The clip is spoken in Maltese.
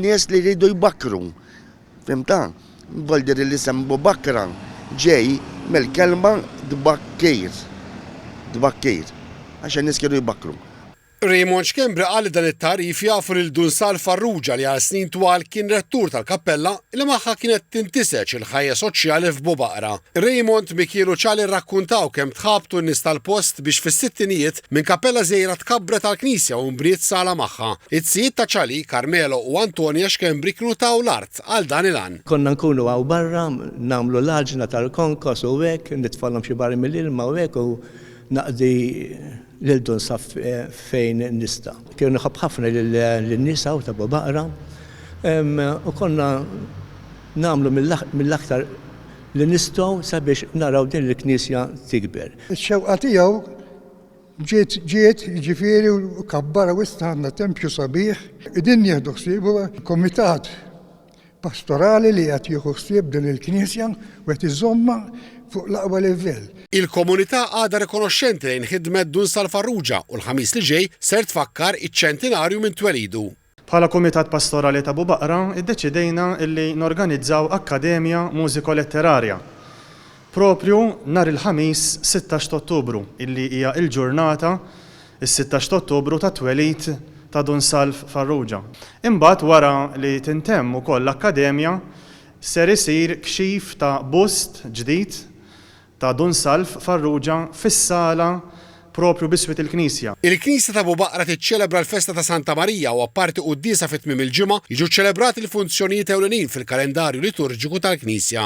Nies li jridu jbakkru. Fimta? Bol dir l-isem Bubakkra ġej mill-kelma tbakkir. Tbakkir. Għax in-nies kienu jbakkru. Raymond Schembri qal li dan it-tagħrif jagħfu lil Dunsal Farrugia li għal snin twal kien rettur tal-kappella li magħha kienet tintiseġ il-ħajja soċjali f'Bubaqra. Raymond, Mikielu Cali rrakkuntaw kemm tħabtu n-nies tal-post biex fis-sittinijiet Minn kappella żgħira tkabbret għall-knisja u nbriet sala magħha. It-tzijiet ta' Ċali, Carmelo u Antonia Schembri kienu taw l-art għal dan il-għan. Konna nkunu hawn barra, nagħmlu l-għaġna tal-konkos u hekk, nitfgħalhom xi barri mill-ilma u hekk u naqdi lil Dun Saff fejn nista'. Kienu nħobb ħafna lin-nies hawn ta' Bobaqra u konna nagħmlu mill-aktar li nistgħu sabiex naraw din il-knisja tikber. Ix-xewqa tiegħu ġiet ġiet, jiġifieri kabbar u issa għandna tempju sabiħ. Qegħdin nieħdu ħsiebu, kumitat pastorali li qed jieħu ħsieb din il-knisja u qed iżommha fuq l-aqwa livell. Il-komunità għadha rikonoxxenti lejn ħidmet Dun Sal Farrugia u l-Ħamis li ġej ser tfakkar iċ-ċentinarju minn twelidu. Bħala Kumitat Pastorali ta' Abubaqra ddeċidejna li norganizzaw akkademja mużiko-letterarja proprju nhar il-Ħamis sittax t'Ottubru illi hija l-ġurnata, is-sittax t'Ottubru, tat-twelid ta' Dun Salv Farrugia. Imbagħad wara li tintemm ukoll l-akkademja ser isir kxif ta' bust ġdid ta' Dun Salv Farrugia fis-sala proprju b'iswit il-knisja. Il-knisja ta' Bubaqra tiċċelebra l-festa ta' Santa Marija u apparti quddiesa fi tmiem il-ġimgħa, jiġu ċċelebrati l-funzjonijiet ewlenin fil-kalendarju liturġiku tal-knisja.